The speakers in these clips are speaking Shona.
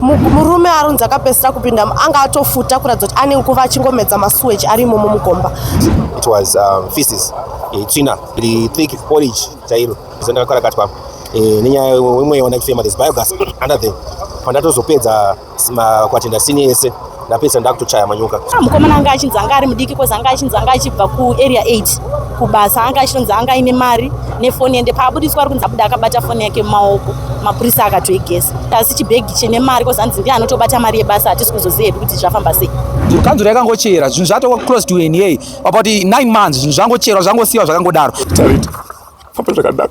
murume arunzi akapesera kupinda anga atofuta kuratidza kuti ane nguva achingomedza masuweji ari imomo mugomba it was um, feces eh, tsvina iri thick porridge chairo zandakakarakatwa eh, nenyaya wemweya wandachifema this biogas under them pandatozopedza makwatenda sini yese ndapedzisa ndakutochaya manyoka ah, mukomana anga achinzi anga ari mudiki kozi anga achinzi anga achibva kuarea 8 kubasa anga achinonzi anga aine mari nefoni ende paabudiswa ari kunzi abuda akabata foni yake mumaoko mapurisa akatoigesa asi chibhegi chine mari kozi anzi ndiye anotobata mari yebasa hatisi kuzoziva hedu kuti zvafamba sei kanzuro yakangochera zvinhu zvatova close to na about 9 months zvinhu zvangocherwa zvangosiyiwa zvakangodaro famba zvakadaro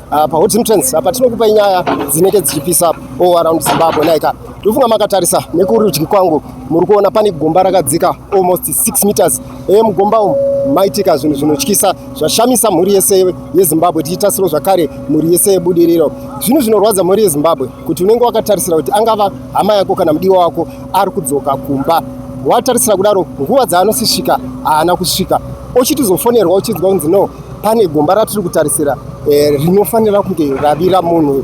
Ah, pa Hot Entrance apa tinokupa nyaya dzinenge dzichipisa up all around Zimbabwe naika ndofunga makatarisa nekurudyi kwangu muri kuona pane gomba rakadzika almost 6 meters eye mugomba umu maitika zvinhu zvinotyisa zvashamisa mhuri yese yezimbabwe tichitasiro zvakare mhuri yese yebudiriro zvinhu zvinorwadza mhuri yezimbabwe kuti unenge wakatarisira kuti angava hama yako kana mudiwa wako ari kudzoka kumba watarisira kudaro nguva dzaanosisvika haana kusvika ochitizofonerwa uchinzwa kunzi no pane gomba ratiri kutarisira eh, rinofanira kunge ravira munhu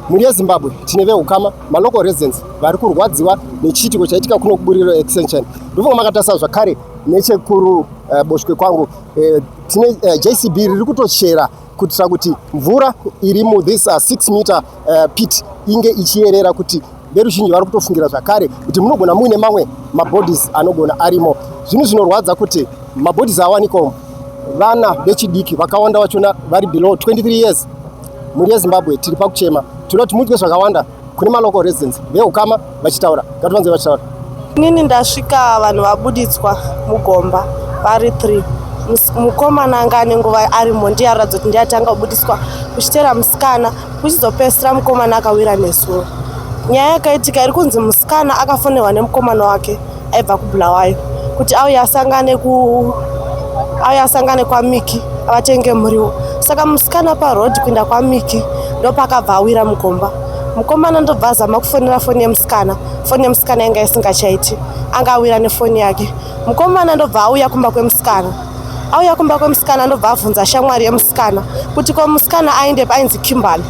mhuri yezimbabwe tine veukama malocal residents vari kurwadziwa nechiitiko chaitika kuno kuburiro extension ndofunga makatarisa zvakare nechekuru eh, boshwe kwangu eh, tine eh, jcb riri kutochera kuitira kuti mvura iri muthis uh, six meter uh, pit inge ichiyerera kuti Veruzhinji vari kutofungira zvakare kuti munogona muine mamwe mabodies anogona arimo. Zvinhu zvinorwadza kuti mabodies awanikwa vana vechidiki vakawanda vachona vari below 23 years. Mhuri yeZimbabwe tiri pakuchema, tinoda kuti muitwe zvakawanda kune malocal residents veukama vachitaura, ngativanze vachitaura. Inini ndasvika vanhu vabuditswa mugomba vari 3 mukomana anga ane nguva arimo ndiye aratidza kuti ndiye atanga kubudiswa kuchitera musikana kuchizopesira mukomana akawira nezuro nyaya yakaitika iri kunzi musikana akafonerwa nemukomana wake aibva kubulawayo kuti auye asangane ku auye asangane kwamiki avatenge muriwo saka musikana parod kuenda kwamiki ndopakabva awira mugomba mukomana ndobva azama kufonera foni yemusikana foni yemusikana yanga isingachaiti anga awira nefoni yake mukomana ndobva auya kumba kwemusikana auya kumba kwemusikana ndobva abvunza shamwari yemusikana kuti ko musikana aende painzi kimberly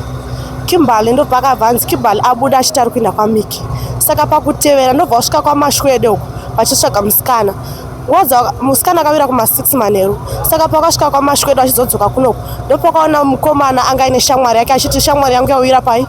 kimberly ndobva akabva anzi kimberly abuda achiti ari kuenda kwamiki saka pakutevera ndobva asvika kwamashwede uko vachitsvaga musikana waza musikana akawira kuma six manheru saka pakasvika kwamashwede achizodzoka kunoko ndopakaona mukomana anga aine shamwari yake achiti shamwari yangu yawira pai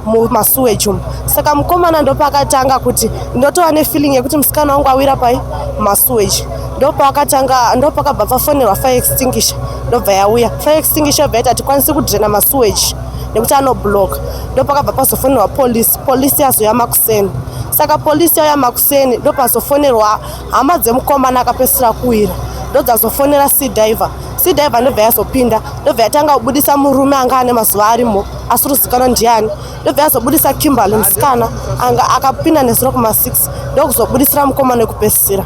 mumasuweji umu saka mukomana ndopaakatanga kuti ndotova nefeeling yekuti musikana wangu awira pai masuweji ndopaakatanga ndopakabva pafonerwa fire extinguisher ndobva yauya fire extinguisher yobva yati hatikwanisi kudrena masuweji nekuti anobloka ndopakabva pazofonerwa polisi polisi yazoya makuseni saka polisi yauya makuseni ndopazofonerwa hama dzemukomana akapesira kuwira ndodzazofonera sea diver sea diver ndobva yazopinda ndobva yatanga kubudisa murume anga ane mazuva arimo asiri kuzikanwa ndiani ndobva yazobudisa kimberly musikana anga akapinda nezuro kuma 6 ndokuzobudisira mukoma nekupesisira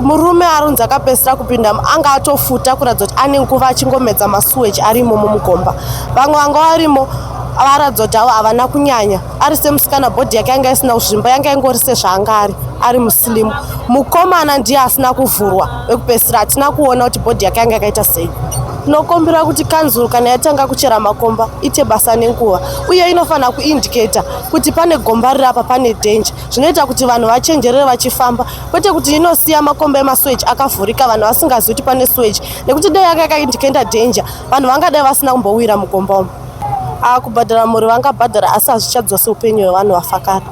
murume arunzi akapesira kupinda anga atofuta kuratidza kuti ane nguva achingomedza masuweji arimo mumugomba vamwe vanga varimo varatidza kuti avo havana kunyanya ari semusikana bhodhi yake yanga isina kuzvimba yanga ingori sezvaanga ari ari musilimu mukomana ndiye asina kuvhurwa ekupesira hatina kuona kuti bhodhi yake yanga yakaita sei tinokumbira kuti kanzuru kana yatanga kuchera makomba ite basa nenguva uye inofanira kuindiketa kuti pane gomba riri apa pane dhenje zvinoita kuti vanhu vachenjerere vachifamba kwete kuti inosiya makomba emasweji akavhurika vanhu vasingazivi kuti pane sweji nekuti dai yanga yakaindiketa dhenje vanhu vangadai vasina kumbowira mugomba umu Ah, kubhadhara mhuri vangabhadhara asi hazvichadzose upenyu hwevanhu vafakara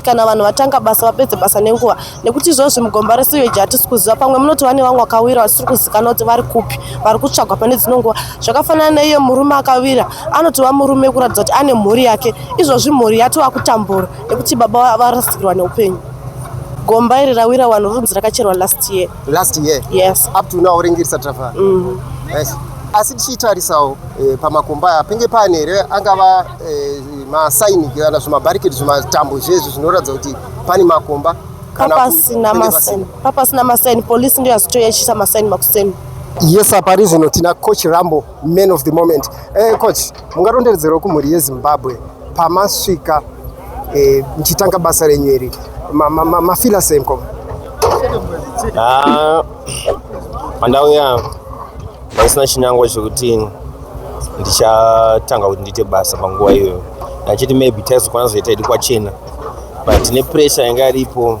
kana vanhu vatanga basa vapedze basa nenguva nekuti izvozvi mugomba reseweji hatisi kuziva pamwe munoti vane vamwe vakawira vasiri kuzikana kuti vari kupi vari kutsvagwa pane dzino nguva zvakafanana neiye murume akawira anotova murume kuratidza kuti ane mhuri yake izvozvi mhuri yatova kutambura nekuti baba varasikirwa neupenyu gomba iri rawira wanhu runzi rakacherwa last year last year yes up to now ringirisa travel mm. yes asi tichitarisawo eh, pamakomba aya penge pane here angava eh, masaini kana zvimabariketi zvimatambo zvezvi zvinoratidza kuti pane makomba papasina masaini papasina masaini polisi ndiyo yasitoyachisa masaini makuseni yes apari zvino tina coach rambo man of the moment eh, coach mungaronderedzerawo kumhuri yezimbabwe pamasvika eh, mchitanga basa renyu iri mafila sei mkoma ah, pandauya ndisina chinangwa chekuti ndichatanga kuti ndiite basa panguva iyoyo achiti maybe taizokwana zoita idi kwachena but nepressure yanga iripo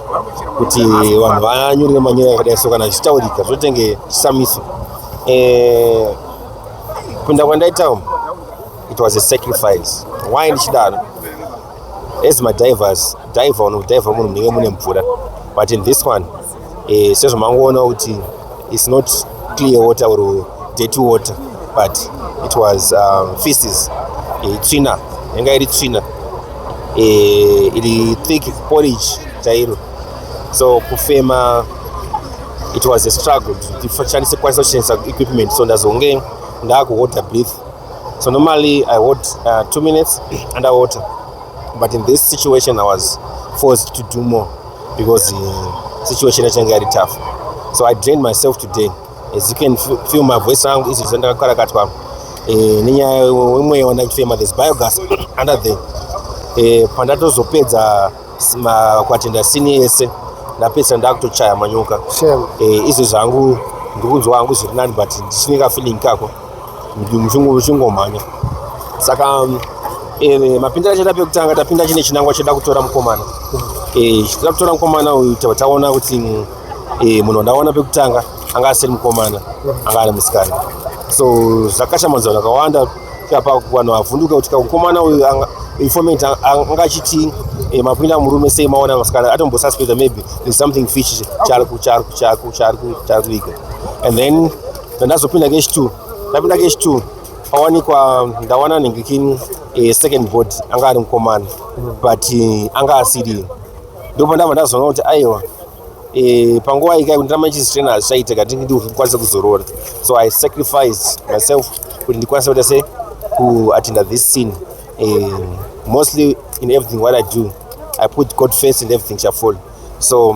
kuti vanhu vanyore manyora akadai so kana zvichitaurika zvotenge chisamiso eh, kunda kwandaita umu it was a sacrifice why ndichidaro as madivers diver unodivha munhu munenge mune mvura but in this one eh, sezvamangoona kuti It's not clear water or dirty water but it was um, feces e, tsvina yanga iri tsvina e, iri thick porridge chairo so kufema it was a struggle ndishandise kwanisa kushandisa equipment so ndazonge ndakuwater breath so normally i wot uh, two minutes under water but in this situation i was forced to do more because uh, situation yachanga yari tough so i drained myself today as you can feel my voice rangu izvi zvandakakarakatwa eh, nenyaya wemweya wandakufema this biogas under the eh, pandatozopedza kwatenda sini yese ndapedzisa ndakutochaya manyuka eh, izvi zvangu ndikunzwa hangu zviri nani but ndichine kafeeling kako kuti muchingomhanya saka eh, mapindira achaita pekutanga tapinda chine chinangwa cheda kutora mukomana eh, chida kutora mukomana uyu taona kuti eh, munhu wandaona pekutanga anga asiri mukomana anga ari musikana so zvakashamadzana akawanda apa vanhu vavhunduka kuti mukomana uyu informant anga achiti eh, mapinda murume sei maona masikana atombosuspecta maybe there's something fish chaari kuiga and then ndazopinda cash two ndapinda cash two pawanikwa ndawana nhingikin eh, second board anga ari mukomana but eh, anga asiri ndopa ndava ndazoona kuti aiwa eh, panguva ikai kuti ndama ichizitena hazvichaite kati ndikwanise kuzorora so i sacrificed myself kuti ndikwanise kuita se kuattenda this scene mostly in everything what i do i put god first and everything shall fall so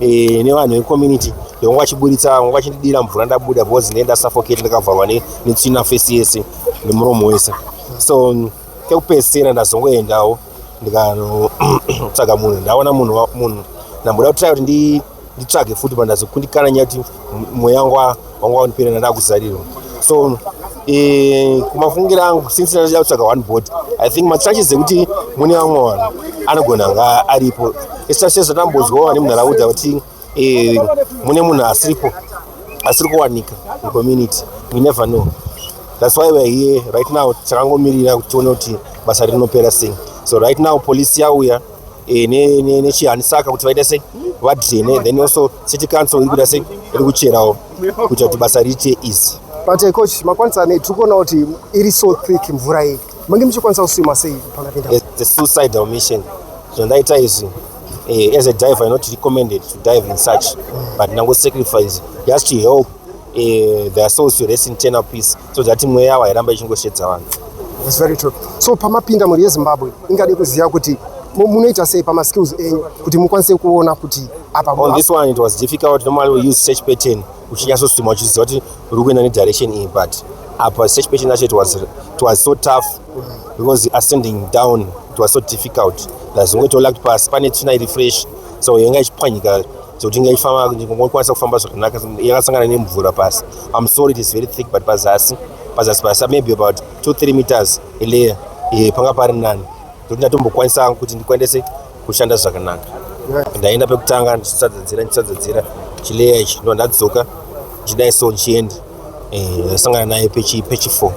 eh, nevanhu vecommunity vanga vachiburitsa vanga vachindidira mvura ndabuda because ne ndasufocate ndakavharwa netsvina face yese nemuromo wese so kekupedzisira ndazongoendawo ndikanotsvaga munhu ndaona munhu munhu ndamboda kutira kuti nditsvage futi pandazokundikana nyaya kuti mweya wangu vanga wandipera ndadaa kuzarirwa so eh, kumafungiro angu since ndachida kutsvaga one body i think machances ekuti mune vamwe vanhu anogona anga aripo especially zvatambonzwawo vane munharaunda kuti eh, mune munhu asiripo asiri kuwanika mucommunity we never know thats why weare here right now takangomirira kuti tione kuti basa rinopera sei so right now polisi yauya eh, nechihanisaka kuti vaita sei vadrene then also city council iri kuda sei iri kucherawo kuita kuti basa riite easy but eh, coach makwanisa nei tiri kuona kuti iri so thick mvura iyi mange muchikwanisa kusima sei pakapinda eh, the suicidal mission zvandaita izvi as a diver i not recommended to dive in such but ndangosacrifice just to help eh, their souls to rest in eternal peace so that mweya yavo hairamba ichingoshedza vanhu It's very true. So pamapinda mhuri yeZimbabwe ingade kuziva kuti mu- munoita sei pamaskills enyu kuti mukwanise kuona kuti apa on mu- this one it was difficult normally we use search pattern uchinyasostima uchiziva kuti uri kuenda nedirection iyi but apa search pattern yacho it was, it was so tough because ascending down it was so difficult lazongoitolakt pasi pane tsvina iri fresh so yanga ichipwanyika zvekuti inga ifamba kukwanisa kufamba zvakanaka yakasangana nemvura pasi am sorry it is very thick but pazasi pazasi pasi maybe about two three meters layer eh, panga pari nani zvekuti ndatombokwanisa kuti ndikwanise kushanda zvakanaka ndaenda pekutanga ndichisadzadzira ndichisadzadzira chileya ichi ndo ndadzoka chidai so ndichienda eh, ndasangana naye pechi pechi four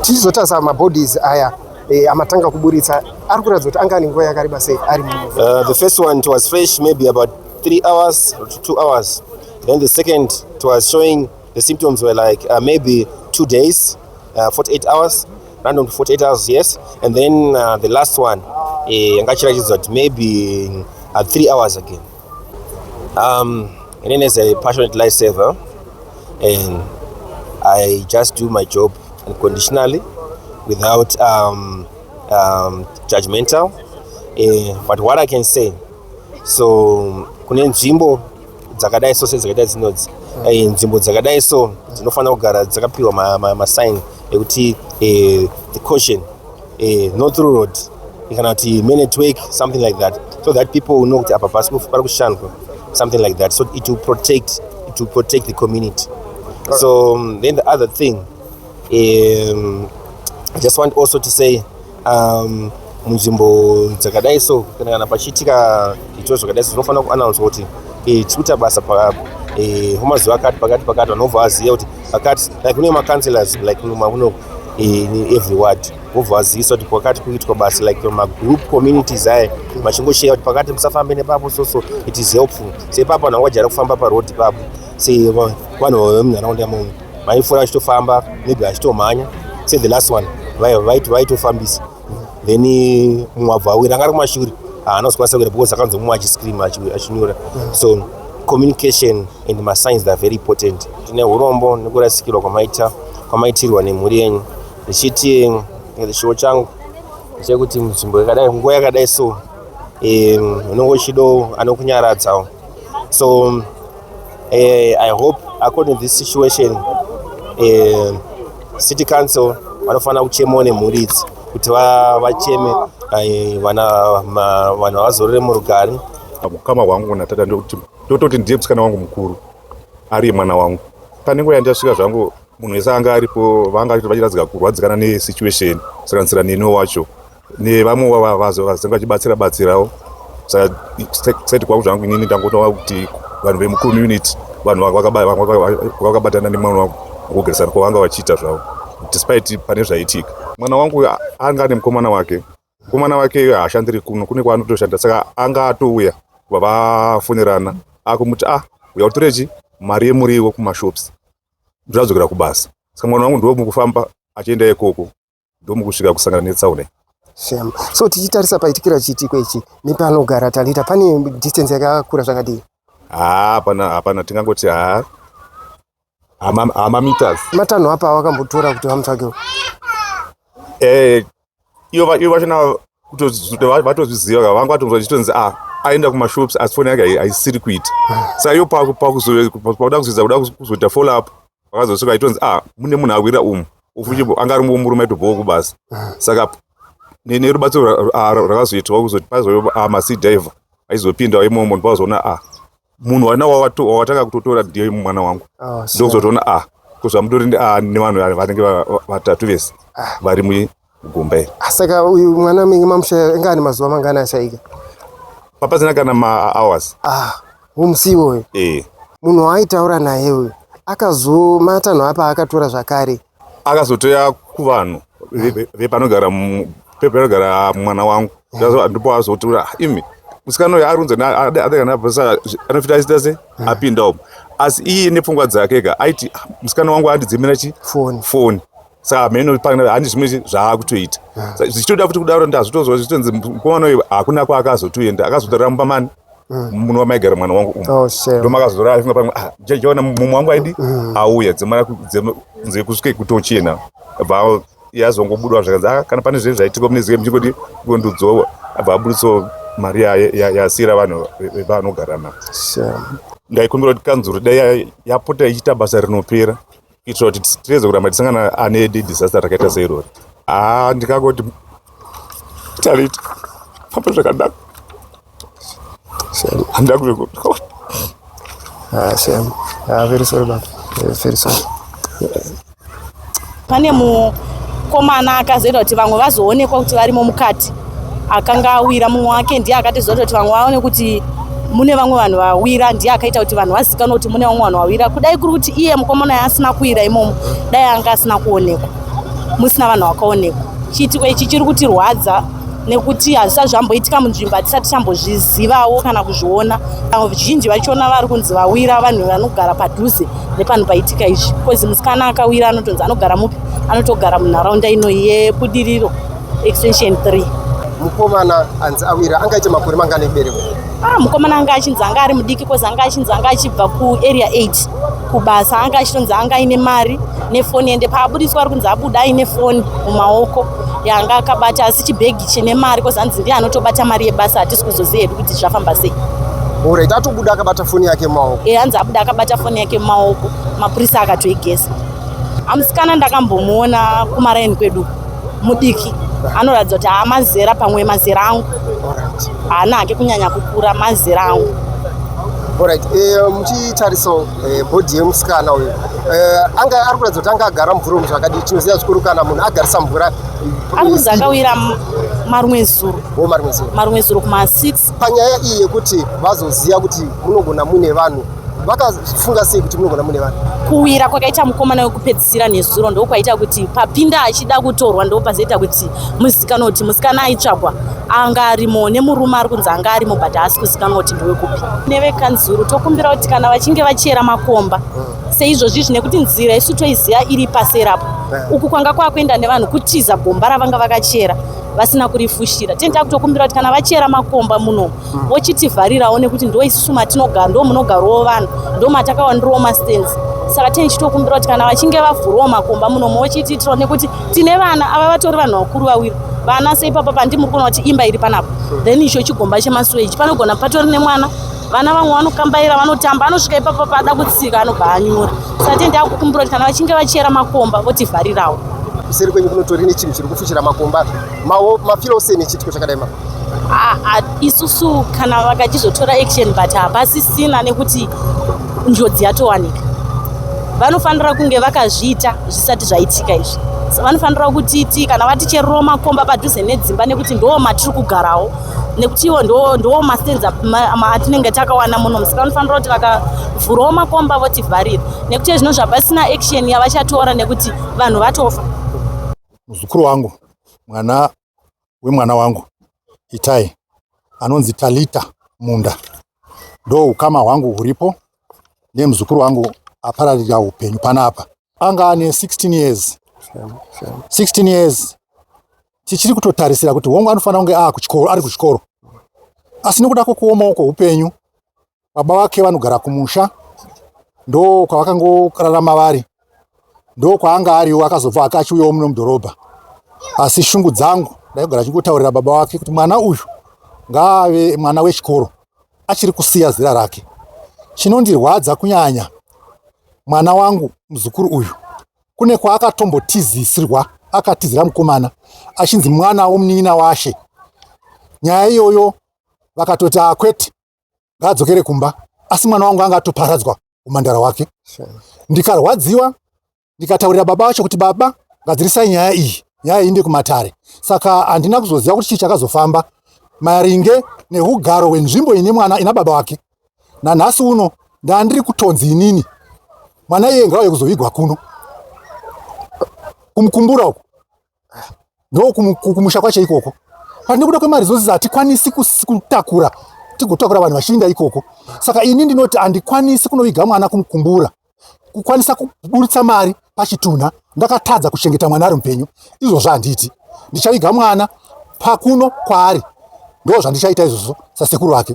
tichizotarisa mabodies aya Eh, amatanga kuburitsa ari kuratidza kuti anga ane nguva yakareba sei ari uh, the first one it was fresh maybe about three hours or two hours then the second it was showing the symptoms were like uh, maybe two days uh, 48 hours random to 48 hours yes and then uh, the last one eh, yanga uh, ichiratidza kuti maybe uh, three hours again Um, Irene is a passionate lifesaver and I just do my job unconditionally without um, um, judgmental. Uh, but what I can say, so kune nzvimbo dzakadai so sedzakaita dzinodzi eh, nzvimbo dzakadai so dzinofanira kugara dzakapiwa masign ekuti eh, the caution eh, no through road kana kuti main network something like that so that people will know kuti apa pasi pari kushandwa something like that so it will protect it will protect the community right. so um, then the other thing um, i just want also to say um, munzvimbo dzakadai so kana kana pachiitika zvitiro zvakadai so zvinofanira kuannounsa kuti eh, tikuita basa eh, homa zuva akati pakati pakati vanobva vaziva kuti pakati like kune macounselors like mumakunoku in every word vobva vazivisa kuti kwakati kuitwa basa like magroup communities aya machingoshaya kuti pakati musafambe nepapo soso it is helpful sepapo vanhu vangajara kufamba paroad ipapo se vanhu vemunharaunda momo vaifura vachitofamba maybe vachitomhanya se the last one vaitofambisa then mumwe abva awira anga ari kumashure haana kuzokwanisa kuenda because akanzwa mumwe achiscream achinyora so communication and masigns are very important tine urombo nekurasikirwa kwamaita kwamaitirwa nemhuri yenyu ndichiti chiwo changu chekuti nzvimbo yakadai nguva yakadai so unenge uchido anokunyaradzawo so uh, i hope according to this situation uh, city council vanofanira kuchemawo nemhuri idzi kuti vacheme eh, vana vanhu vazorore murugari mukama wangu natata ndokuti ndototi ndiye musikana wangu mukuru ariye mwana wangu pane nguva yandasvika zvangu munhu wese anga aripo vanga vachiradzika kurwadzikana nesituation sakanisira neno wacho nevamwe vavazo vazenge vachibatsira batsirawo sati kwangu zvangu inini ndangotaura kuti vanhu vemucommunity vanhu vakabatana nemwana wangu kugarisana kwavanga vachiita zvavo despite pane zvaitika mwana wangu anga ane mukomana wake mukomana wake iye haashandiri kuno kune kwaanotoshanda saka anga atouya vavafonerana akumuti ah uya utorechi mari yemuriwo kumashops ndozadzokera kubasa saka mwana wangu ndiwo mukufamba achienda ikoko ndomukusvika kusangana netsaona shame so tichitarisa paitikira chiitiko ichi nepanogara talita pane distance yakakura zvakadii haa hapana hapana tingangoti haa hama- hamameters matanho apa awakambotora kuti vamutsvagewo Eh, ivo va- ivo vachona kutozi- va- vatozviziva ka vanga vatonzwa chitonzi a aenda kumashops asi foni yake hai- haisiri kuita saka ivo paku- pakuzo- pakuda kuzoedza kuda kuzo- kuzoita follow up vakazosvika itonzi ah mune munhu awira umu ufuti anga ari murume aitobhowa kubasa saka nerubatsiro rakazoitwa kuzoti pazouya ah, masi diver aizopindawo imomo ndipazoona ah munhu wana wawatanga kutotora ndiye mwana wangu ah, ndokuzotoona ah kuzvamutori ah, nevanhu vanenge vatatu vese ah. vari Gomba iri. Saka uyu mwana menge mamushaya inga ane mazuva mangani ashaika? Papazina kana ma hours. Ah, umusiwo uyu. Eh. Munhu waaitaura naye uyu akazomatanho apa akatora zvakare. Akazotoya kuvanhu vepanogara pepanogara mwana wangu. Eh. Ndipo azotura ah, imi musikana uyu arunza adakanaposa anofita aita se eh. apinda umu asi iye nepfungwa dzake ka aiti ah, musikana wangu andidzimira chi foni saka hameno pana handi zvimwe zvaakutoita ah. zvichitoda futi kudaro ndazvitozwa zvichitonzi mukomana uyu hakuna kwaakazotoenda akazotorera mumba mani ah. muno wamaigara mwana wangu umu oh, ndomakazorara finga pamwe ah, jajaona mumwe wangu aidi auya dzemana kunze kusvike kutochena bva yazongobudwa zvakanzi a kana pane zvinenge zvaitika mune zike muchingoti kondudzowa abva abuditso mari yasiira vanhu vevanogara navo ndaikumbira kuti kanzuru dai yapota ichiita basa rinopera kuitira kuti tireze kuramba tisangana ane disaster rakaita seirori haa ndikangoti tarita famba zvakadaro handida kuvekuaa very sorry baba very sorry pane mukomana akazoita kuti vamwe vazoonekwa kuti varimo mukati akanga awira mumwe wake ndiye akatizoita kuti vamwe vaone kuti mune vamwe vanhu vawira ndiye akaita kuti vanhu vazikanwe kuti mune vamwe vanhu vawira kudai kuri kuti iye mukomana yaasina kuwira imomo dai anga asina kuonekwa musina vanhu vakaonekwa chiitiko ichi chiri kutirwadza nekuti hazvisati zvamboitika munzvimbo hatisati chambozvizivawo kana kuzviona vamwe vizhinji vachiona vari kunzi vawira vanhu vanogara padhuze nepanhu paitika izvi bcause musikana akawira anotonzi anogara mupi anotogara munharaunda inoyi yebudiriro extension 3 mukomana anzi awira anga aite makore mangani ekuberekwa ah mukomana anga achinzi anga ari mudiki kozi anga achinzi anga achibva ku area 8 kubasa anga achitonzi anga aine mari nefoni ende paabudiswa ari kunzi abuda aine foni mumaoko yanga akabata asi chibhegi chine mari kozi anzi ndiye anotobata mari yebasa hatisi kuzoziva hedu kuti zvafamba sei orit atobuda akabata foni yake mumaoko e anzi abuda akabata foni yake mumaoko mapurisa akatoigesa amusikana ndakambomuona kumaraini kwedu mudiki anoratidza kuti haa mazera pamwe mazera angu haana hake kunyanya kukura mazera angu Alright, eh, muchitariso eh, bhodhi yemusikana uyu eh, anga ari kuratidza kuti anga agara mvura umu zvakadii tinoziva zvikuru kana munhu agarisa mvura ari kunzi akawira marumwe zuro oh, marumwe zuro marumwe zuro kuma 6 panyaya iyi yekuti vazoziva kuti munogona muine vanhu vakafunga sei kuti munogona mune vanhu kuwira kwakaita mukomana wekupedzisira nezuro ndokwaita kuti papinda achida kutorwa ndopazoita kuti muzikanwa kuti musikana aitsvagwa anga arimo nemurume ari kunzi anga arimo but haasi kuzikanwa kuti ndewekupi nevekanzuru tokumbira kuti kana vachinge vachera makomba mm. seizvozvizvi nekuti nzira isu toiziva iri paserapo eh. uku kwanga kwakuenda nevanhu kutiza gomba ravanga vakachera vasina kurifushira tini takutokumbira kuti kana vachera makomba muno hmm. vochitivharirawo nekuti ndo isusu matinogara ndo munogarwawo vanhu ndo matakawandirwo mastens saka tini chitokumbira kuti kana vachinge vavhurwawo makomba muno mochitiitirawo nekuti tine vana ava vatori vanhu vakuru vawiri vana seipapa pandimuri kuona kuti imba iri panapa hmm. then icho chigomba chemasuweji panogona patori nemwana vana vamwe vanokambaira vanotamba anosvika ipapo paada kutsika anobva anyura sati ndakukumbira kuti kana vachinge vachera makomba votivharirawo kuseri kwenyu kunotori nechinhu chiri kufushira makomba mafira usei nechiitiko chakadai ma isusu kana vakachizotora action but hapasisina nekuti njodzi yatowanika vanofanira kunge vakazviita zvisati zvaitika izvi vanofanira kutiti kana vaticherero makomba padhuze nedzimba nekuti ndoo matiri kugarawo nekuti iwo ndo ndo mastands atinenge takawana muno musika vanofanira kuti vakavhurawo makomba votivharira nekuti ezvino zvapasina action yavachatora nekuti vanhu vatofa muzukuru wangu mwana wemwana wangu itai anonzi talita munda ndo ukama hwangu huripo nemuzukuru wangu apararira upenyu panapa anga ane 16 years 16 years tichiri kutotarisira kuti hongu anofanira kunge aa kuchikoro ari kuchikoro asi nekuda kwokuomawo kwoupenyu baba vake vanogara kumusha ndo kwavakangorarama vari ndo kwaanga ariwo akazobva ake achiuyawo muno mudhorobha asi shungu dzangu ndaigara achingotaurira baba wake kuti mwana uyu ngaave mwana wechikoro achiri kusiya zera rake chinondirwadza kunyanya mwana wangu muzukuru uyu kune kwaakatombotizisirwa akatizira mukomana achinzi mwana womunin'ina washe nyaya iyoyo vakatoti akwete ngaadzokere kumba asi mwana wangu anga atoparadzwa umandara wake ndikarwadziwa ndikataurira baba vacho kuti baba gadzirisai nyaya iyi nyaya iyi ndekumatare saka handina kuzoziva kuti chii chakazofamba maringe neugaro hwenzvimbo ine mwana ina baba wake nanhasi uno ndandiri kutonzi inini mwana iye ngauye kuzovigwa kuno kumukumbura uku ndokumusha kwacho ikoko but nekuda kwemari zose hatikwanisi kutakura tigotakura vanhu vachiinda ikoko saka ini ndinoti handikwanisi kunoviga mwana kumukumbura kukwanisa kuburitsa mari pachitunha ndakatadza kuchengeta mwana ari mupenyu izvozvo handiti ndichaviga mwana pakuno kwaari ndo zvandichaita izvozvo sasekuru vake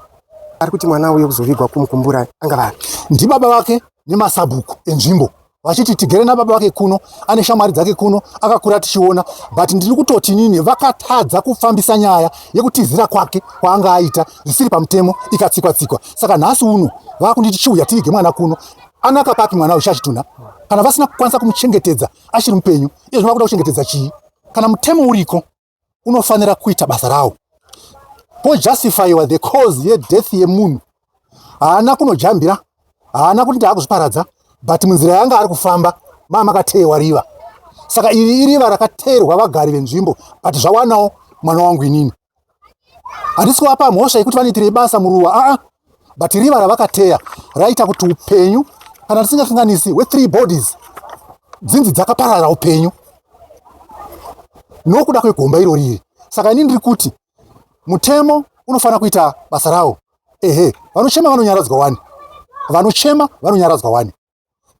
ari kuti mwana uye kuzovigwa kumukumbura anga vari ndibaba vake nemasabhuku enzvimbo vachiti tigere nababa vake kuno ane shamwari dzake kuno akakura tichiona but ndiri kutoti nini vakatadza kufambisa nyaya yekutizira kwake kwaanga aita zvisiri pamutemo ikatsikwa tsikwa saka nhasi uno vakunditi chiuya tirige mwana kuno anaka papi mwana uchachitunha kana vasina kukwanisa kumuchengetedza achiri mupenyu iye zvinoda kuda kuchengetedza chii kana mutemo uriko unofanira kuita basa rawo pojustifyiwa the cause yedeath yemunhu haana kunojambira haana kuti ndaakuzviparadza but munzira yanga ari kufamba maa makateyewa riva saka iri iriva rakateerwa vagari venzvimbo but zvawanawo mwana wangu inini handisi kuvapa mhosva yekuti vanoitirei basa muruwa aa ah, ah. but riva ravakateya raita kuti upenyu kana tisingafinganisi wethree bodies dzinzi dzakaparara upenyu nokuda kwegomba iro riri saka ini ndiri kuti mutemo unofanira kuita basa rawo ehe vanochema vanonyaradzwa wani vanochema vanonyaradzwa wani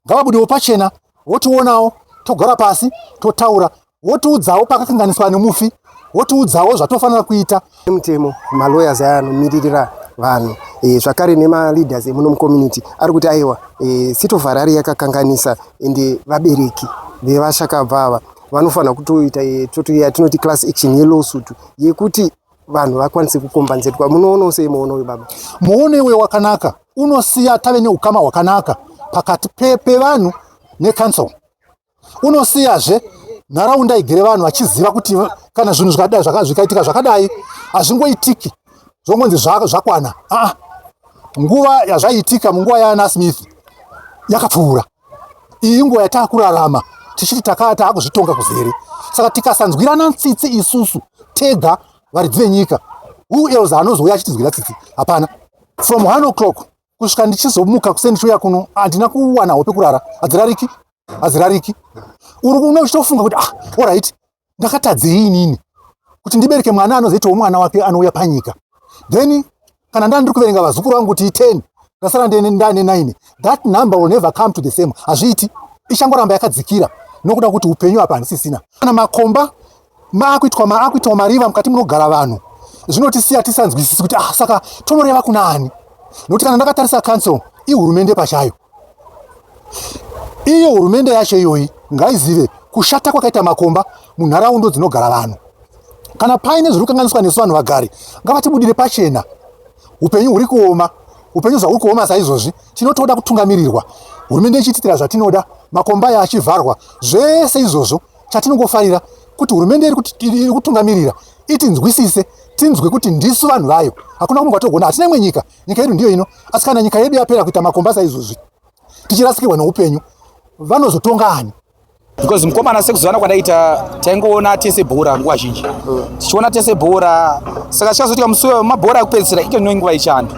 ngavabudewo pachena votionawo togara pasi totaura votiudzawo pakakanganiswa nemufi votiudzawo zvatofanira kuita mutemo malawyers aya anomiririra vanhu e, zvakare nemaleaders emuno mucommunity ari kuti aiwa e, eh, sitofarari yakakanganisa ende vabereki vevashakabva ava vanofanira kutoita eh, totoya tinoti class action yelawsuit yekuti vanhu vakwanise kukombanzetwa munoonawo sei muono uyu baba muono iwe wakanaka unosiya tave neukama hwakanaka pakati pevanhu pe necouncil unosiyazve nharaunda igere vanhu vachiziva kuti kana zvinhu zvakadai zvakazvikaitika zvakadai hazvingoitiki zvongonzi zvakwana aa nguva yazvaiitika munguva yaana smith yakapfuura iyi inguva yataakurarama tichiti takaa taakuzvitonga kuzere saka tikasanzwirana tsitsi isusu tega varidzi venyika who else anozouya achitinzwira tsitsi hapana from one o'clock kusvika ndichizomuka kuseni chouya kuno handina kuwana hope kurara hadzirariki hadzirariki uri kuno uchitofunga kuti ah orit ndakatadzei inini kuti ndibereke mwana anozoitawo mwana wake anouya panyika then kana ndaa ndiri kuverenga vazukuru vangu kuti iten ndasara ndaane nine that number will never come to the same hazviiti ichangoramba yakadzikira nokuda kuti upenyu hapa handisisina kana makomba maakuitwa maakuitwa mariva mukati munogara vanhu zvinotisiya tisanzwisisi kuti ah saka tonoreva kuna ani nokuti kana ndakatarisa council ihurumende pachayo Iyo hurumende yacho iyoyi ngaizive kushata kwakaita makomba munharaundo dzinogara vanhu. Kana paine zviri kukanganiswa nesu vanhu vagari, ngavatibudire pachena. Upenyu huri kuoma, upenyu zvahuri kuoma saizvozvi, tinotoda kutungamirirwa, hurumende ichitiitira zvatinoda, makomba aya achivharwa, zvese izvozvo. Chatinongofarira kuti hurumende iri kutungamirira itinzwisise tinzwe kuti ndisu vanhu vayo hakuna kumwe kwatogona hatina imwe nyika nyika yedu ndiyo ino asi kana nyika yedu yapera kuita makomba saizvozvi tichirasikirwa neupenyu vanozotonga ani because mukomana sekuzivana kwandaita taingoona tese bhora nguva zhinji tichiona tese bhora saka chikazotika musi mabhora ekupedzisira ito ndino nguva yechando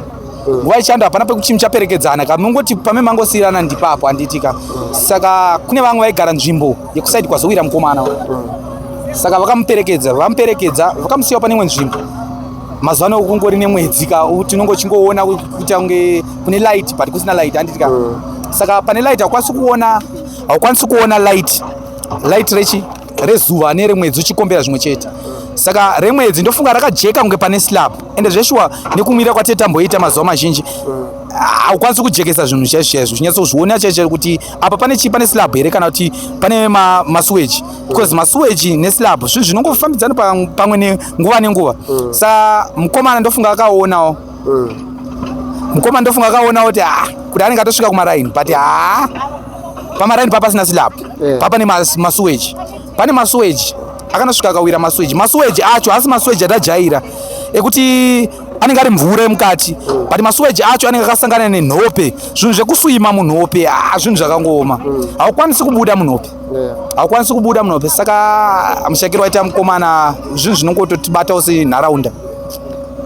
nguva yechando hapana pekuti muchaperekedzana ka mungoti pame mangosiyirana ndipapo handiitika saka kune vamwe vaigara nzvimbo yekusaidi kwazowira mukomana saka vakamuperekedza vamuperekedza vakamusiyawo pane imwe nzvimbo mazuva ano kungori nemwedzi ka tinongo chingoona kuita kunge kune light but kusina light handiti ka mm. saka pane light haukwanisi kuona haukwanisi kuona light light rechi rezuva neremwedzi uchikombera zvimwe chete saka remwedzi ndofunga rakajeka kunge pane slab ende zveshuwa nekumira kwatete tamboita mazuva mazhinji haukwanisi kujekesa zvinhu chaizvo chaizvo chinyatsozviona chaizvo kuti apa pane chii pane slab here kana kuti pane masuweji because masuweji neslab zvinhu zvinongofambidzana pamwe nguva nenguva mm. sa mukomana ndofunga akaonawo mm. mukomana ndofunga akaonawo kuti ah, kuti anenge atosvika kumaraini but haa pamaraini papasina silab yeah. papa nemasuweji pane masuweji akanosvika akawira masuweji masuweji acho haasi masuweji atajaira ekuti anenge ari mvura yemukati but masuweji acho anenge akasangana nenhope zvinhu zvekuswima munhope a ah, zvinhu zvakangooma haukwanisi kubuda munhope haukwanisi kubuda munope saka mushakiro waita mukomana zvinhu zvinongototibatawo senharaunda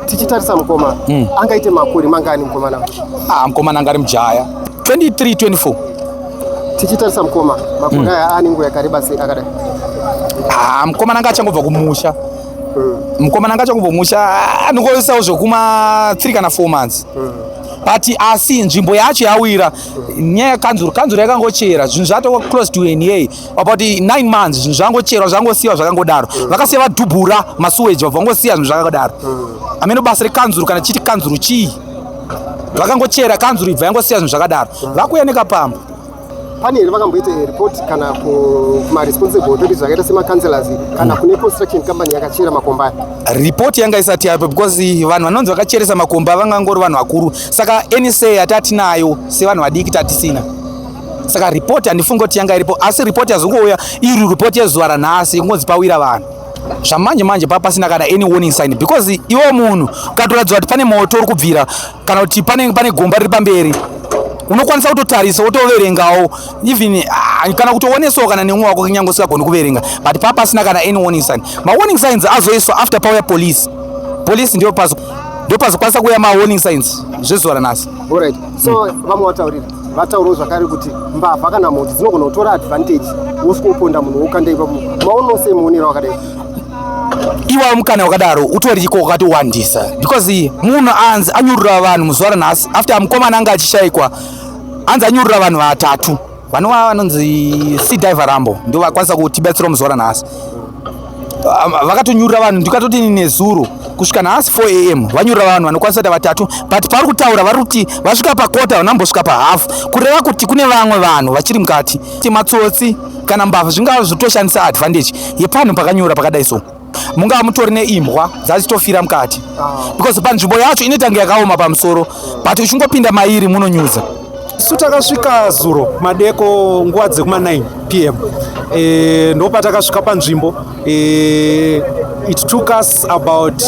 tichitarisa mukoma mm. angaite makore mangani mukomana ah, mukomana angari mujaya 23 24 tichitarisa mukoma makore mm. aya mm. anenguva yakareba sei akadai ah, mukomana anga achangobva kumusha mm. mukomana anga achangobva kumusha anongoisawo zvekuma 3 kana 4 months mm. but asi nzvimbo yacho yawira nyaya yekanzuru kanzuru yakangochera zvinhu zvatova close to an a about nine months zvinhu zvakangocherwa zvakangosiyiwa zvakangodaro mm. vakasiya vadhubhura masuweji vabva vangosiya zvinhu zvakadaro mm. amene basa rekanzuru kana chiti kanzuru chii vakangochera kanzuru ibva yangosiya zvinhu zvakadaro mm. vakuya nekapamba pane here vakamboita report kana kumaresponsible authorities akaita semacouncelors kana mm. kune construction company yakachera makomba aya report yanga isati yapo because vanhu vanonzi vakacheresa makomba vangangori vanhu vakuru Saka NSA yatatinayo sevanhu vadiki tatisina saka report handifungi kuti yanga iripo asi report yazongouya iri report yezuva ranhasi kungonzi pawira vanhu zvamanje manje pa pasina kana any warning sign because iwe munhu ukatoratidza kuti pane moto uri kubvira kana kuti pane pane gomba riri pamberi unokwanisa kutotarisa wotoverengawo even ah, kana kutoonesawo kana nemwe wako kunyange usingagoni kuverenga but pa pasina kana any warning sign ma warning signs azoiswa after pauya police police ndiyo pazo ndopazokwanisa kuuya mawarning signs zvezuva ranhasi right so mm. vamwe vataurira vataurawo zvakare kuti mbavha kana mhoti dzinogona kutora advantage wosikoponda munhu wokanda ipapo maono sei muonera wakadai iwawo mukana wakadaro utori chiko wakatowandisa because munhu anzi anyurura vanhu muzuva ranhasi after mukomana anga achishaikwa anzi anyurura vanhu vatatu Vanova vanonzi Sea Diver Rambo ndivo vakwanisa kutibatsira muzuva ranhasi. Ah, vakatonyurira vanhu ndikatoti nezuro kusvika nhasi 4 am vanyurira vanhu vanokwanisa kuita vatatu but pavari kutaura vari kuti vasvika pakota vanambosvika pahafu kureva kuti kune vamwe vanhu vachiri mukati matsotsi kana mbavha zvingava zvotoshandisa advantage yepanhu pakanyura pakadai so mungava mutori neimbwa dzachitofira mukati ah. because panzvimbo yacho inotange yakaoma pamusoro but uchingopinda mairi munonyudza isu takasvika zuro madeko nguva dzekuma 9 pm e, eh, ndopatakasvika panzvimbo e, it took us about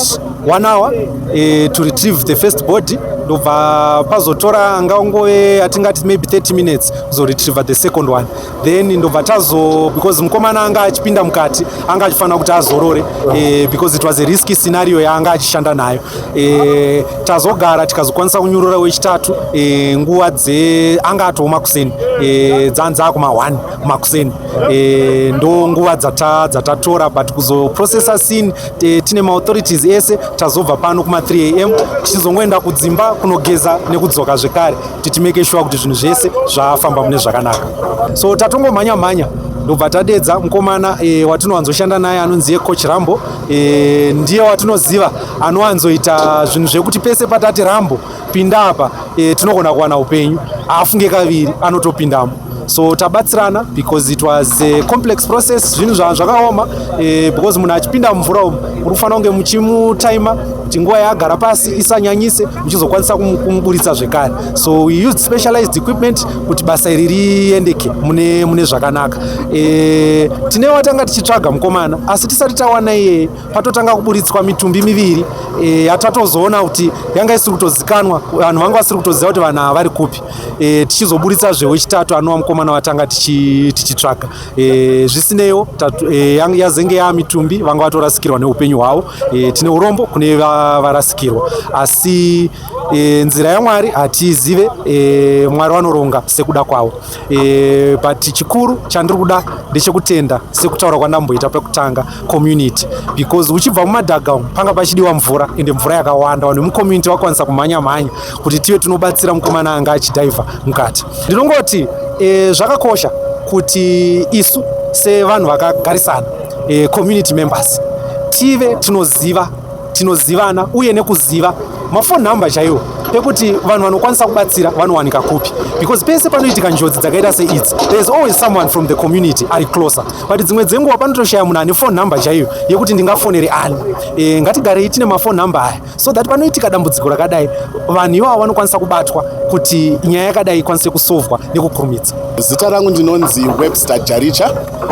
one hour e, to retrieve the first body ndobva pazotora ngaungove atingati maybe 30 minutes kuzoretrieve the second one then ndobva tazo because mukomana anga achipinda mukati anga achifanira kuti azorore eh, because it was a risky scenario yaanga achishanda nayo eh, tazogara tikazokwanisa kunyurura wechitatu eh, nguva dze anga atooma kuseni eh, dzanzi akuma 1 makuseni eh, ndo nguva dzatatora dzata but kuzoprocessa scene eh, tine maauthorities ese tazobva pano kuma 3 am tichizongoenda kudzimba kunogeza nekudzoka zvekare kuti timeke shuwa kuti zvinhu zvese zvafamba mune zvakanaka so tatongomhanya mhanya ndobva tadedza mukomana e, watinowanzoshanda naye anonzi ye coach rambo e, ndiye watinoziva anowanzoita zvinhu zvekuti pese patati rambo pinda apa e, tinogona kuwana upenyu haafunge kaviri anotopindamo so tabatsirana because it was a complex process zvinhu zvanhu zvakaoma eh, because munhu achipinda mumvura umu muri kufanira kunge muchimutaima kuti nguva yaagara pasi isanyanyise muchizokwanisa kumuburitsa zvekare so we used specialized equipment kuti basa iri riendeke mune, mune zvakanaka e, tine watanga tichitsvaga mukomana asi tisati tawana iyeye patotanga kuburitswa mitumbi miviri e, yatatozoona kuti yanga isiri kutozikanwa vanhu vanga vasiri kutoziva kuti vanhu ava vari kupi e, tichizoburitsazve wechitatu anova mukomana watanga tichitsvaga tichi e, zvisineiwo e, yazenge yaa mitumbi vanga vatorasikirwa neupenyu hwavo e, tine urombo kune varasikirwa asi e, nzira yamwari hatiizive e, mwari vanoronga sekuda kwavo e, but chikuru chandiri kuda ndechekutenda sekutaura kwandamboita pekutanga community because uchibva mumadhaga panga pachidiwa mvura ende mvura yakawanda vanhu vemucommunity vakwanisa kumhanya mhanya kuti tive tinobatsira mukomana anga achidhaivha mukati ndinongoti e, zvakakosha kuti isu sevanhu vakagarisana e, community members tive tinoziva tinozivana uye nekuziva mafon number chaiwo ekuti vanhu vanokwanisa kubatsira vanowanika kupi because pese panoitika njodzi dzakaita seidzi thereis always someone from the community ari closer but dzimwe dzenguva panotoshaya munhu ane fon number chaiyo yekuti ndingafonere ani e, ngatigarei tine mafon number aya so that panoitika dambudziko rakadai vanhu ivavo vanokwanisa kubatwa kuti nyaya yakadai ikwanise kusovwa nekukurumidza zita rangu ndinonzi webster jaricha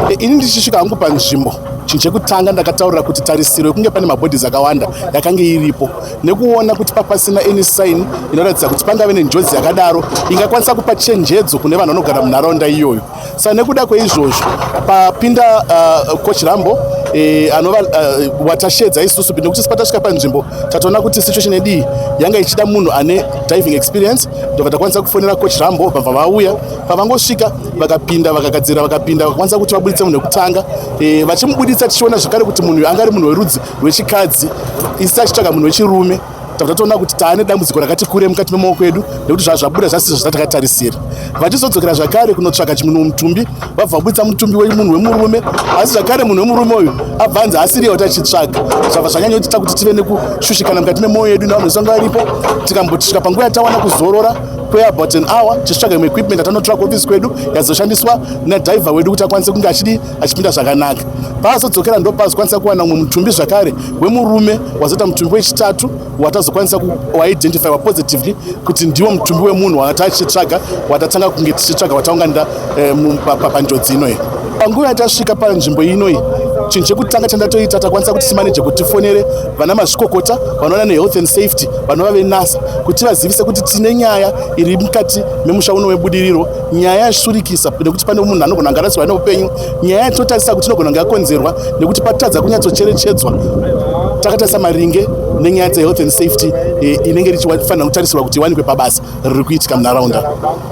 e, ini ndichisvika hangu panzvimbo chinhu chekutanga ndakataurira kuti tarisiro yekunge pane mabhodhis akawanda yakange iripo nekuona kuti papasina any sign inoratidza kuti pangave nenjodzi yakadaro ingakwanisa kupa chenjedzo kune vanhu vanogara munharaunda iyoyo Sa nekuda kweizvozvo papinda uh, coach Rambo eh, anova uh, watashedza isusu nekuti sipa tasvika panzvimbo tatoona kuti situation yedii yanga ichida munhu ane diving experience ndobva takwanisa kufonera coach Rambo vabva vauya pavangosvika vakapinda vakagadzira vakapinda vakakwanisa kuti vabuditse munhu wekutanga eh, vachimubuditsa tichiona zvekare kuti munhu anga ari munhu werudzi rwechikadzi isi achitsvaga munhu wechirume tabva toona kuti taane dambudziko rakati kure mukati memaoko edu nekuti zvazvabuda zvasiso zvatakatarisira vachizodzokera zvakare kunotsvaka chimunhu mutumbi vabva vabudisa mutumbi wemunhu wemurume asi zvakare munhu wemurume uyu abva anzi asiriye kuti achitsvaga zvabva zvanyanyotiita kuti tive nekushushikana mukati memoyo yedu nevanhu vesanga varipo tikambotisvika panguva yatawana kuzorora kweabout an hour tichitsvaga imwe equipment atanotora kuofisi kwedu yazoshandiswa nadhivha wedu kuti akwanise kunge achidii achipinda zvakanaka paazodzokera ndopazokwanisa kuwana umwe mutumbi zvakare wemurume wazoita mutumbi wechitatu watazokwanisa waidentifywa positively kuti ndiwo mutumbi wemunhu waata achitsvaga watatanga kunge tichitsvaga wataunganira eh, panjodzi inoyi panguva yatasvika panzvimbo inoyi chinhu chekutanga chandatoita takwanisa kuti simaneje kuti tifonere vana mazvikokota vanoona nehealth and safety vanova venasa kuti vazivise kuti tine nyaya iri mukati memusha uno webudiriro nyaya yashurikisa nekuti pane munhu anogona kunge arasirwa neupenyu nyaya yatotarisa kuti inogona kunge yakonzerwa nekuti patadza kunyatsocherechedzwa takatarisa maringe nenyaya dzehealth and safety e, inenge richifanira kutarisirwa kuti iwanikwe pabasa riri kuitika munharaunda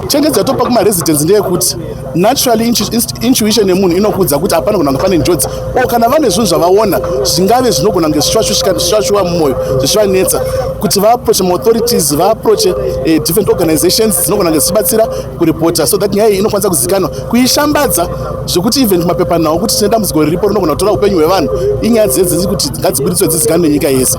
chenjedzo yatopa kumaresidence ndeyekuti naturally intuition yemunhu inokuudza kuti hapana kunanga pane njodzi o kana vane zvinhu zvavaona zvingave zvinogona kunge zvichivashuva mumwoyo zvichivanetsa kuti vaaproche maauthorities vaaproche eh, different organizations dzinogona kunge dzichibatsira kuripota so that nyaya iyi inokwanisa kuzikanwa kuishambadza zvekuti even mapepanhau kuti tine dambudziko riripo rinogona kutora upenyu hwevanhu inyaya dzine dziri kuti ngadzibuditswe dzizikanwe nenyika yese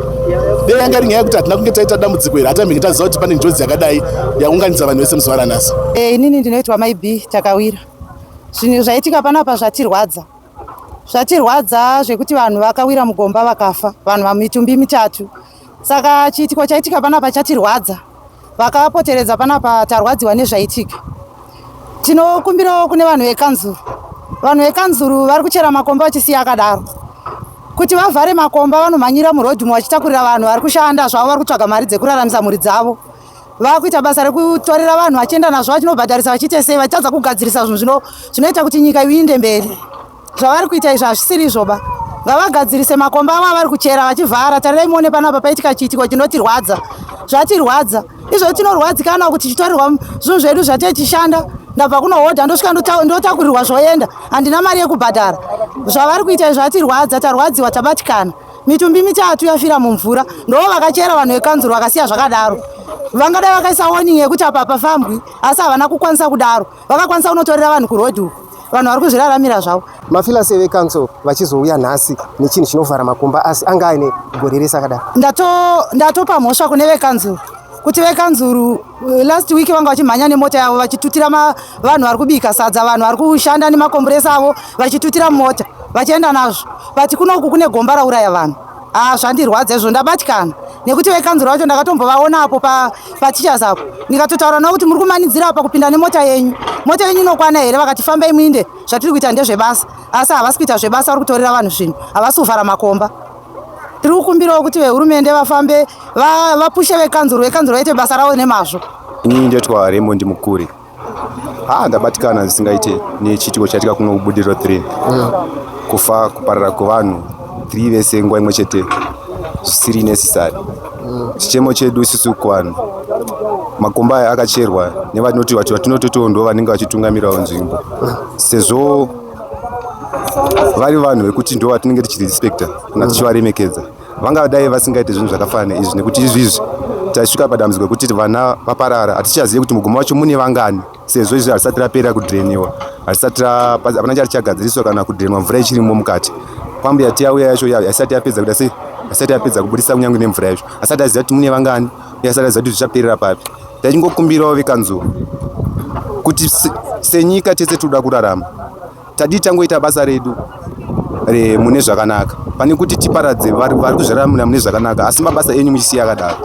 dei yanga iri nyaya yekuti hatina kunge taita dambudziko iri hatamhinge taziva kuti pane njodzi yakadai yaunganidza vanhu vese muzuva ranhasi eh, inini ndinoitwa mai b takawira zvinhu zvaitika panapa zvatirwadza zvatirwadza zvekuti vanhu vakawira mugomba vakafa vanhu vamitumbi mitatu saka chiitiko chaitika panapa chatirwadza vakapoteredza panapa tarwadziwa nezvaitika tinokumbirawo kune vanhu vekanzuru vanhu vekanzuru vari kuchera makomba vachisiya akadaro kuti vavhare makomba vanomhanyira murodhi umo vachitakurira vanhu vari kushanda zvavo vari kutsvaga mari dzekuraramisa mhuri dzavo vakuita basa rekutorera vanhu vachienda nazvo vachinobhadharisa vachiite sei vachitadza kugadzirisa zvinhu zvino zvinoita kuti nyika iinde mberi zvavari kuita izvi hazvisiri izvoba ngavagadzirise makomba avo avari kuchera vachivhara tarirai muone panapa paitika chiitiko chinotirwadza zvatirwadza izvo tinorwadzikana kuti chitarirwa zvinhu zvedu zvatechishanda ndabva kunohodha ndosvika ndotakurirwa zvoenda handina mari yekubhadhara zvavari kuita izvo atirwadza tarwadziwa tabatikana mitumbi mitatu yafira mumvura ndoo vakachera vanhu vekanzuru vakasiya zvakadaro vangadai vakaisa warning yekuti apa hapafambwi asi havana kukwanisa kudaro vakakwanisa kunotorera vanhu kuroad uku vanhu vari kuzviraramira zvavo mafilasi vecouncil vachizouya nhasi nechinhu chinovhara makumba asi anga aine gore rese akadaro ndatopa mhosva kune vekanzuru kuti vekanzuru uh, last week vanga vachimhanya nemota yavo vachitutira vanhu vari kubika sadza vanhu vari kushanda nemakomburesa avo vachitutira mota vachienda nazvo but kunoku kune gomba rauraya vanhu haa ah, zvandirwadza izvo ndabatikana nekuti vekanzuru vacho ndakatombovaona apo patichas apo ndikatotaura navo kuti muri kumanidzira apa kupinda nemota yenyu mota yenyu inokwana here vakati famba imwinde zvatiri kuita ndezvebasa asi havasi kuita zvebasa vari kutorera vanhu zvinhu havasi kuvhara makomba tiri kukumbirawo kuti vehurumende vafambe vapushe vekanzuru vekanzuru vaite basa ravo nemazvo inini ndoitwa raymond mukuri ha ah, ndabatikana zvisingaite nechiitiko chaitika kuno kubudiriro 3 mm. kufa kuparara kwevanhu 3 vese nguva imwe chete zvisiri necessary mm. chichemo chedu isusu kuvanhu makomba aya akacherwa nevanoti vati vatinototiwo ndo vanenge vachitungamirawo nzvimbo mm. sezvo vari vanhu vekuti ndo vatinenge tichirespecta kana tichivaremekedza vanga dai vasingaite zvinhu zvakafana izvi nekuti izvi izvi taisvika padambudziko rekuti vana vaparara hatichazivi kuti mugumo wacho mune vangani sezvo izvi harisati rapera kudreniwa harisati hapana chari chagadziriswa kana kudrenwa mvura ichirimo mukati kwambuya tiyauya yacho yaisati yapedza kuita sei asati apedza kubudisa kunyange nemvura yacho asati aziva kuti mune vangani yasara zati zvichaperera papi ndachingokumbirawo vekanzuru kuti senyika tese tinoda kurarama tadii tangoita basa redu mune zvakanaka pane kuti tiparadze vari kuzviraramira mune zvakanaka asi mabasa enyu muchisiya akadaro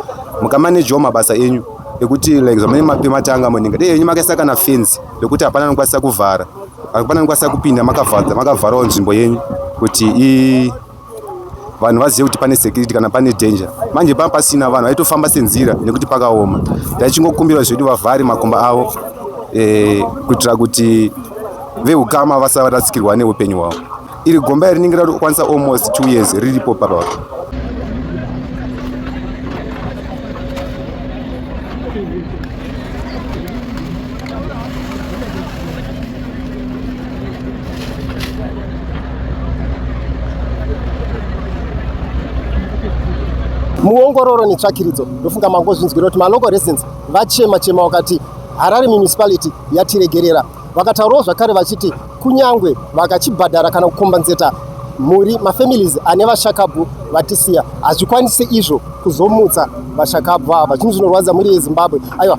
mukamanejawo mabasa enyu ekuti like zvamene mape matanga munenge dei henyu makaisa kana fenzi yekuti hapana anokwanisa kuvhara hapana anokwanisa kupinda makavhara makavharawo nzvimbo yenyu kuti i vanhu vazive kuti pane security kana pane danger manje paa pasina vanhu vaitofamba senzira nekuti pakaoma taichingokumbira zvedu vavhari makomba avo e, kuitira kuti veukama vasavarasikirwa neupenyu hwavo iri gomba iri rinenge rakwanisa almost two years riripo parao muongororo netsvakiridzo ndofunga mangozvinzwira kuti malocal residents vachema chema wakati harare municipality yatiregerera vakataurawo zvakare vachiti kunyange vakachibhadhara kana kukombanzeta mhuri mafamilies ane vashakabvu vatisiya hazvikwanise izvo kuzomutsa vashakabvu ava chinhu zvinorwadza mhuri yezimbabwe aiwa